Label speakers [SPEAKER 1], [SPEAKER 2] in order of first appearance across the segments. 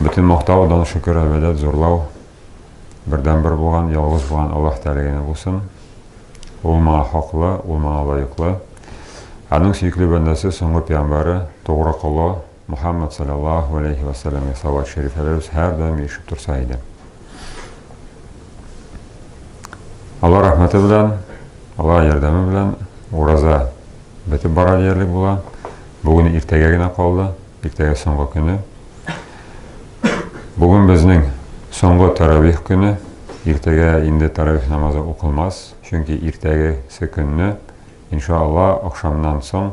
[SPEAKER 1] Бөтен мактау, дан, шөкер, әбәдәт, зурлау бердәнбер булган, ялгыз булган Аллаһ Тәгалә генә булсын. Ул моңа хаклы, ул моңа лаеклы. Аның сөекле бәндәсе, соңгы пиямбары, тугры колы Мухаммад саллаллаһу алейхи ва саллямга салават шәрифләребез һәрдаим ирешеп торса иде. Алла рәхмәте белән, Алла ярдәме белән ураза бетеп бара диярлек була. Бүген иртәгә генә калды, иртәгә соңгы көне. Бүген безнең соңгы таравих көне. Иртәгә инде таравих намазы укылмас, чөнки иртәгесе көнне, иншалла, ахшамнан соң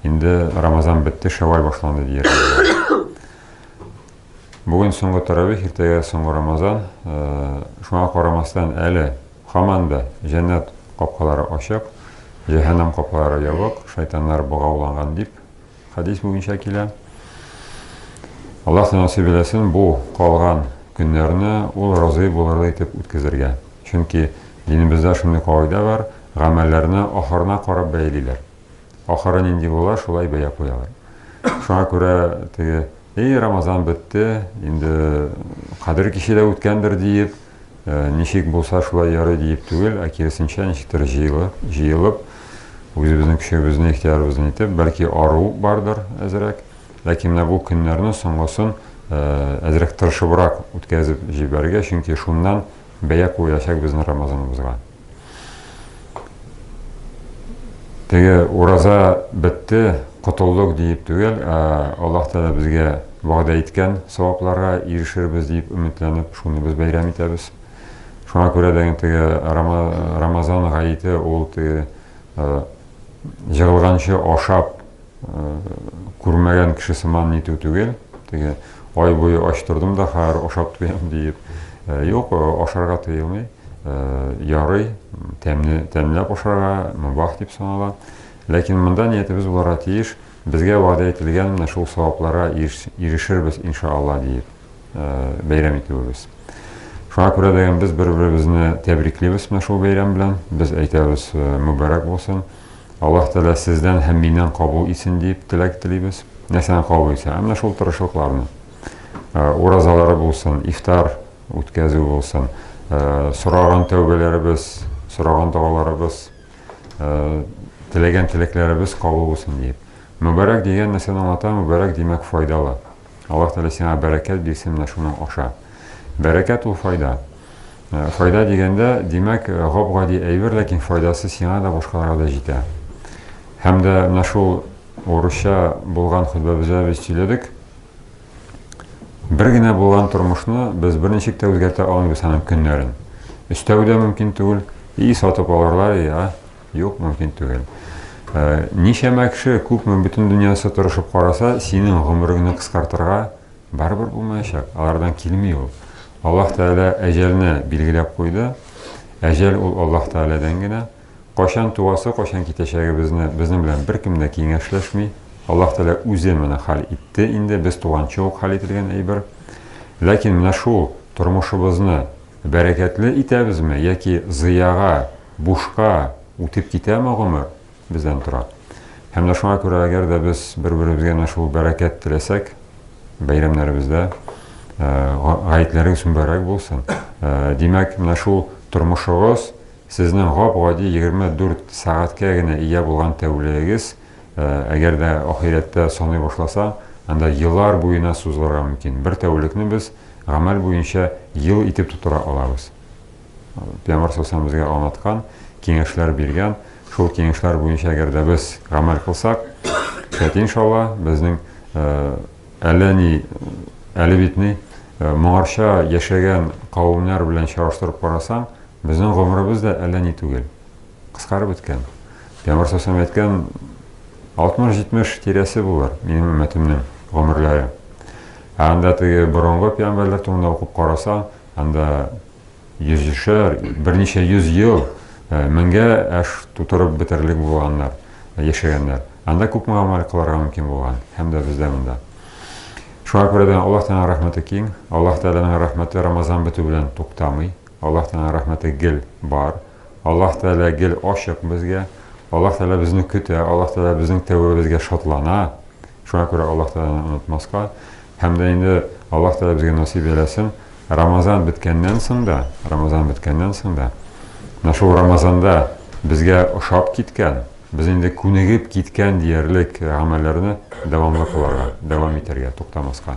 [SPEAKER 1] инде Рамазан бетте, Шәвваль башланды дияргә була. Бүген соңгы тәравих, иртәгә соңгы Рамазан. Шуңа карамастан, әле һаман да җәннәт капкалары ачык, җәһәннәм капкалары ябык, шайтаннар богауланган дип хәдис буенча килә. Аллаһ насыйп итсен бу калган көннәрне ул разый булырлы итеп үткәзергә. Чөнки динебездә шундый кагыйдә бар, гамәлләрне ахырына карап бәялиләр. Ахыры нинди була, шулай бәя куялар. Шуңа күрә теге, эй, Рамазан бетте, инде кадер киче дә үткәндер диеп, э, ничек булса шулай ярый диеп түгел, ә киресенчә ничектер җыелып, җыелып, үзебезнең көчебезне, ихтиярыбызны итеп, бәлки ару бардыр әзрәк. Ләкин менә бу көннәрне соңгысын э, әзрәк тырышыбрак үткәзеп җибәрергә, чөнки шуннан бәя куелачак безнең Рамазаныбызга. Теге ураза бетте, котылдык диеп түгел, ә Аллаһ Тәгалә безгә вәгъдә иткән савапларга ирешербез дип өметләнеп, шуны без бәйрәм итәбез. Шуңа күрә дә теге Рамазан гаете ул теге җыгылганчы ашап күрмәгән кеше сыман нитү түгел, теге ай буе ач тордым да хәзер ашап туям диеп. Э, юк, э, ашарга тыелмый. Э, ярый, тәмне тәмләп ашарга мөбах дип санала. Ләкин монда ниятебез буларга тиеш, безгә вәгъдә ителгән менә шул савапларга ирешербез иншалла диеп бәйрәм итүебез. Шуңа күрә дә без бер-беребезне тәбриклибез менә шул бәйрәм белән. Без әйтәбез мөбарәк булсын. Аллаһ Тәгалә сездән һәм миннән кабул итсен дип теләк телибез. Нәрсәне кабул итсен? Ә менә шул тырышлыкларны. Ә, уразалары булсын, ифтар үткәзү булсын, ә, сораган тәүбәләребез, сораган догаларыбыз, ә, теләгән теләкләребез кабул булсын диеп. Мөбарәк дигән нәрсәне аңлата, мөбарәк димәк файдалы. Аллаһ Тәгалә сиңа бәрәкәт бирсен менә шуның аша. Бәрәкәт ул файда. Э, файда дигәндә, димәк, э, гап-гади әйбер, ләкин файдасы сиңа да башкаларга да җитә. Һәм дә менә шул урысча булган хөтбәбездә без сөйләдек. Бер генә булган тормышны без берничек тә үзгәртә алмыйбыз аның көннәрен. Өстәү дә мөмкин түгел, и сатып алырлар, и, а? Юк, мөмкин түгел. Ә, ничәмә кеше, күпме бөтен дөньясы тырышып караса, синең гомереңне кыскартырга барыбер булмаячак. Алардан килми ул. Аллаһ Тәгалә әҗәлне билгеләп куйды. Әҗәл ул Аллаһ Тәгаләдән генә. Кайчан туасы, кайчан китәчәгебезне безнең белән беркем дә киңәшләшми. Аллаһ Тәгалә үзе моны хәл итте инде, без туганчы ук хәл ителгән әйбер. Ләкин менә шул тормышыбызны бәрәкәтле итәбезме яки зыяга бушка үтеп китәме гомер, бездән тора. Һәм дә шуңа күрә, әгәр дә без бер-беребезгә менә шул бәрәкәт теләсәк, бәйрәмнәребездә гаетләрегез мөбарәк булсын. Димәк, менә шул тормышыгыз сезнең гап-гади 24 сәгатькә генә ия булган тәүлегегез, әгәр дә ахирәттә саный башласа, анда еллар буена сузылырга мөмкин. Бер тәүлекне без гамәл буенча ел итеп тутыра алабыз. Пиамар Солтан безгә аңлаткан, киңәшләр биргән. Шул киңәшләр буенча әгәр дә без гамәл кылсак, шәт иншалла, безнең әллә ни әле бит ни моңарча яшәгән кавемнәр белән чагыштырып карасаң, безнең гомеребез дә әллә ни түгел. Кыскарып беткән. Пиамар Солтан әйткән 60-70 тирәсе булыр минем өммәтемнең гомерләре. Ә анда теге борынгы пиамбәрләр турында укып карасаң, Анда йөзешәр, берничә йөз ел, меңгә аш тутырып бетерерлек булганнар, яшәгәннәр. Анда күпме гамәл кылырга мөмкин булган, һәм дә бездә монда. Шуңа күрә дә Аллаһ Тәгаләнең рәхмәте киң. Аллаһ Тәгаләнең рәхмәте Рамазан бетү белән туктамый. Аллаһ Тәгаләнең рәхмәте гел бар. Аллаһ Тәгалә гел ачык безгә. Аллаһ Тәгалә безне көтә, Аллаһ Тәгалә безнең тәүбәбезгә шатлана. Шуңа күрә Аллаһ Тәгаләне онытмаска һәм дә инде Аллаһ Тәгалә безгә насыйп әйләсен, Рамазан беткәннән соң да, Рамазан беткәннән соң да, менә шул Рамазанда безгә ошап киткән, без инде күнегеп киткән диярлек гамәлләрне дәвамлы кыларга, дәвам итәргә, туктамаска.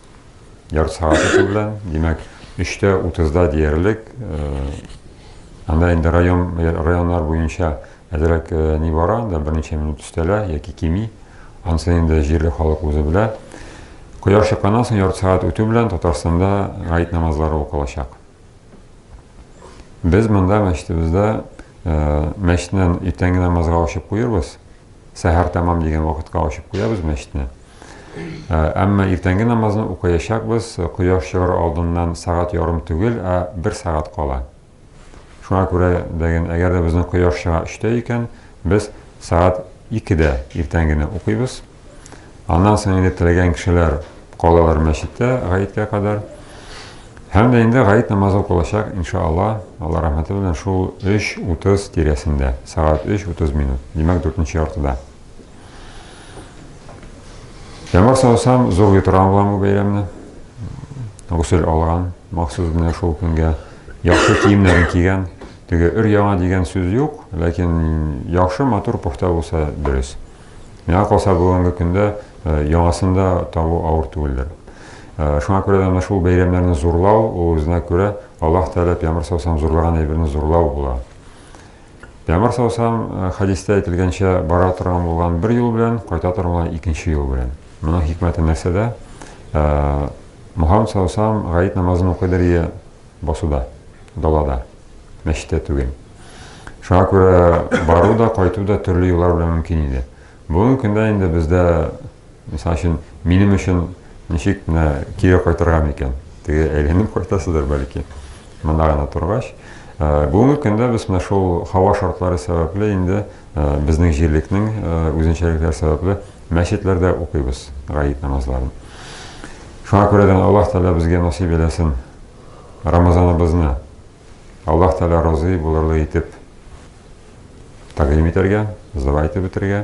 [SPEAKER 1] Ярты сәгать үтү белән, димәк, 3:30-да диярлек, анда инде район районнар буенча әзрәк ни бара, анда берничә минут өстәлә яки кими. Ансын инде җирле халык үзе белә. Кояш чыкканнан соң ярты сәгать үтү белән Татарстанда гает намазлары укылачак. Без монда мәчетебездә мәчетнен иртәнге намазга ачып куербыз. Сәһәр тәмам дигән вакытка ачып куябыз мәчетне. Ә, әмма иртәнге намазны укыячакбыз, кояш чыгар алдыннан сәгать ярым түгел, ә бер сәгать кала. Шуңа күрә дәген, әгәр дә безнең кояш чыга өчтә икән, без сәгать икедә иртәнгене укыйбыз. Аннан соң инде теләгән кешеләр калалар мәчеттә гаеткә кадәр. Һәм дә инде гаит намазы укылачак, иншаалла, Алла рәхмәте белән шул 3.30 тирәсендә, сәгать 3.30 минут, димәк, дүртенче яртыда. Яңгыр саусам, зур йотран булам бу бәйрәмне. Гусел алган, махсус менә шул көнгә яхшы киемнәрен кигән. Теге өр яңа дигән сүз юк, ләкин яхшы матур пөхтә булса дөрес. Миңа калса, бүгенге көндә яңасын да табу авыр түгелдер. Шуңа күрә дә менә шул бәйрәмнәрне зурлау, ул үзенә күрә Аллаһ Тәгалә пәйгамбәр саллаллаһу зурлаган әйберне зурлау була. Пәйгамбәр саллаллаһу хәдистә әйтелгәнчә, бара торган булган бер юл белән, кайта торган булган икенче юл белән. Моның хикмәте нәрсәдә? Мухаммад саллаллаһу алейһи гаит намазын укыдыр ие, Басуда, далада, мәчеттә түгел. Шуңа күрә бару да, кайту да төрле юллар белән мөмкин иде. Бүгенге көндә инде бездә, мисал өчен, минем өчен ничек менә кире кайтырга микән? Теге әйләнеп кайтасыздар бәлки. Монда гына торгач, Э, бүгенге көндә без менә шул һава шартлары сәбәпле инде э, безнең җирлекнең э, үзенчәлекләре сәбәпле мәчетләрдә укыйбыз гает намазларын шуңа күрә дә аллаһ тәғәлә безгә насыйп әйләсен Рамазаныбызны Аллаһ Тәгалә разый булырлы итеп тәкъдим итәргә, зыва итеп үтәргә.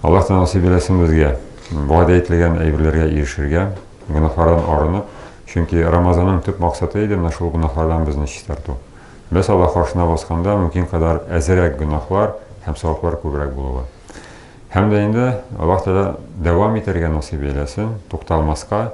[SPEAKER 1] Аллаһ Тәгалә насыйп итсен безгә вәгъдә ителгән әйберләргә ирешергә, гөнаһлардан арынып, чөнки Рамазанның төп максаты иде менә шул гөнаһлардан безне чистарту. Без Аллаһ каршына басканда мөмкин кадәр әзрәк гөнаһлар һәм саваплар күбрәк булуы. Һәм дә инде Аллаһ Тәгалә дәвам итәргә насыйп итсен, тукталмаска